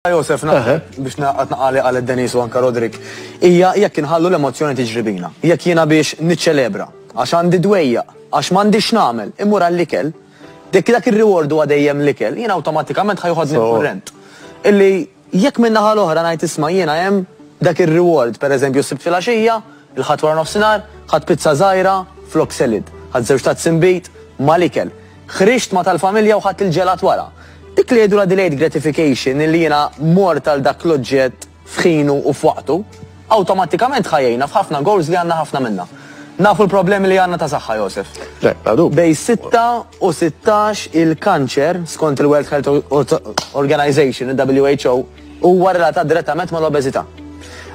Josef, naħseb biex naqgħod naqali għal Denis u anka Rodrik, hija jekk inħallu l-emozzjoni tiġri bina. Jekk jiena biex niċċelebra, għax għandi dwejja, għax m'għandix nagħmel, imur għall-ikel. Dik dak ir-reward huwa dejjem l-ikel, jiena awtomatikament ħajħodni kurrent. Illi jekk minn naħa l-oħra ngħid isma' jiena hemm dak ir-reward, pereżempju sibt filgħaxija, il-ħadd wara nofsinhar, ħadd pizza żgħira flok selid, ħadd żewġ tazz imbit mal-ikel. Ħriġt ma' tal-familja u ħadt il-ġelat wara. Dik li jgħidulha delayed gratification illi jiena mort għal dak l-oġġett f'ħinu u f'waqtu, awtomattikament ħa jgħinna f'ħafna goals li għandna ħafna minnha. Nafu l-problemi li għandna ta' saħħa, Josef. Le, bla dubju. Bejn sitta u sittax il-kanċer, skont il-World Health Organization, il-WHO, huwa relatat direttament mal-obeżità.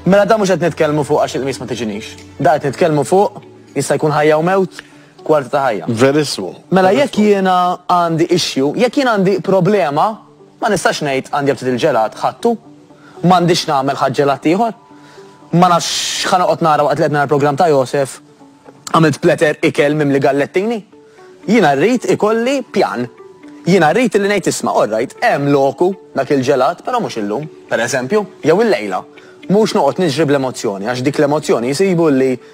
Mela da mhux qed nitkellmu fuq għax il-qmis ma tiġinix. Da qed nitkellmu fuq jista' jkun ħajja u mewt, kwarti ta' ħajja. Verissmu. Mela jekk jiena għandi issue, jekk jien għandi problema, ma nistax ngħid għandi aptit il-ġelat, ħadtu. M'għandix nagħmel ħadd ġelat ieħor. Ma nafx x'ħa noqgħod nara waqt li qed nara l-programm ta' Josef, għamilt platter ikel mimli gallettini. Jiena rrid ikolli pjan. Jiena rrid illi ngħid isma' all right, hemm loku dak il-ġelat, però mhux illum, pereżempju, jew illejla. Mhux noqgħod niġri bl-emozzjoni għax dik l-emozzjoni jsibu li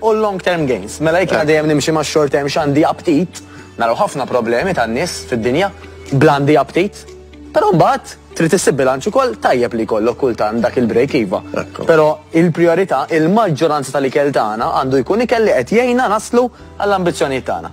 u l-long term gains. Mela jekk jiena dejjem nimxi ma' short term x'għandi aptit, naraw ħafna problemi tan-nies fid-dinja bl-għandi aptit. Però mbagħad trid issib bilanċ ukoll tajjeb li jkollok kultant dak il-break iva. Però il-prijorità, il-maġġoranza tal-ikel tagħna għandu jkun ikel li qed jgħinna naslu għall-ambizzjonijiet tagħna.